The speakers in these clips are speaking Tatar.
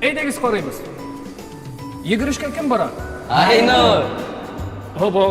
Әйдәгез карыйбыз. Йөгерешкә кем бара? Айнур! Һобо,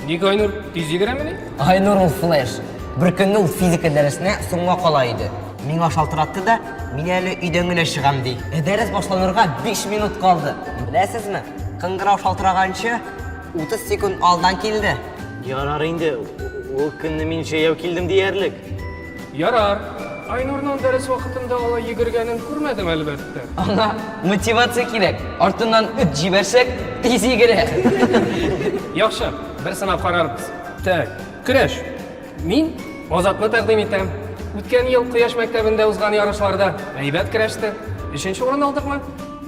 ник Айнур тиз йөгерәмени? Айнур ул флеш. Бер көнне ул физика дәресенә соңга кала иде. Миңа шалтыратты да, мин әле өйдән генә чыгам ди. Ә дәрес башланырга 5 минут калды. Беләсезме, кыңгырау шалтыраганчы 30 секунд алдан килде. Ярар инде, ул көнне мин җәяү килдем диярлек. Ярар. Айнурның дәрес вакытында алай йөгергәнен күрмәдем, әлбәттә. Аңа мотивация кирәк. Артыннан үт җибәрсәк, тиз йөгерә. Яхшы, бер сынап карарбыз. Так, көрәш. Мин Азатны тәкъдим итәм. Үткән ел Кояш мәктәбендә узган ярышларда әйбәт көрәште. Өченче урын алдыкмы?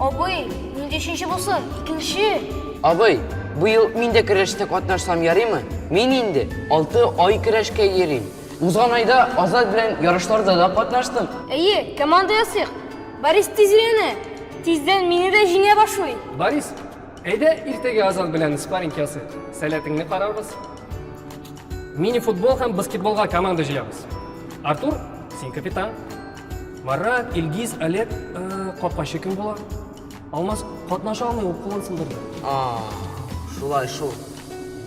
Абый, нинди өченче булсын, икенче! Абый, быел мин дә көрәштә катнашсам ярыймы? Мин инде алты ай көрәшкә йөрим. Узган айда Азат белән ярышларда да катнаштым. Әйе, команда ясыйк. Борис тиз өйрәнә. Тиздән мине дә җиңә башлый. Борис, әйдә иртәгә Азат белән спарринг ясыйк. Сәләтеңне карарбыз. Мини-футбол һәм баскетболга команда җыябыз. Артур, син капитан. Марат, Илгиз, Олег, э, капкачы кем була? Алмаз катнаша алмый, ул кулын сындырды. А, шулай шул.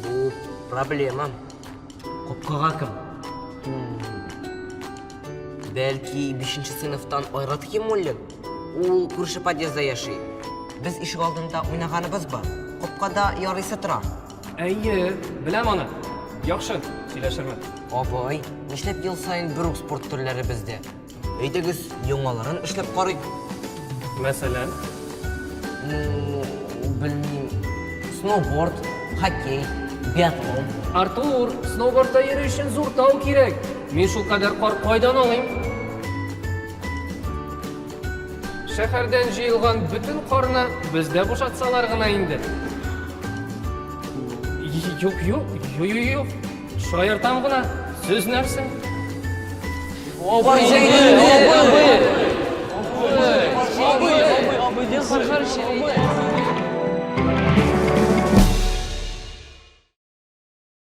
Бу проблемам. Капкага кем? Бәлки, бишенче сыйныфтан Айрат Химуллин? Ул күрше подъездда яши. Без ишек алдында уйнаганыбыз бар. Капкада ярыйсы тора. Әйе, беләм аны. Яхшы, сөйләшермен. Абый, нишләп ел саен бер үк спорт төрләре бездә? Әйдәгез, яңаларын эшләп карыйк. Мәсәлән? Ну, белмим. Сноуборд, хоккей, биатлон. Артур, сноубордта йөрү өчен зур тау кирәк. Мин шул кадәр кар кайдан алыйм? Шәһәрдән җыелган бөтен карны бездә бушатсалар гына инде. Юк, юк, юк, юк, юк. Шаяртам гына, сүз нәрсә? Абый, абый,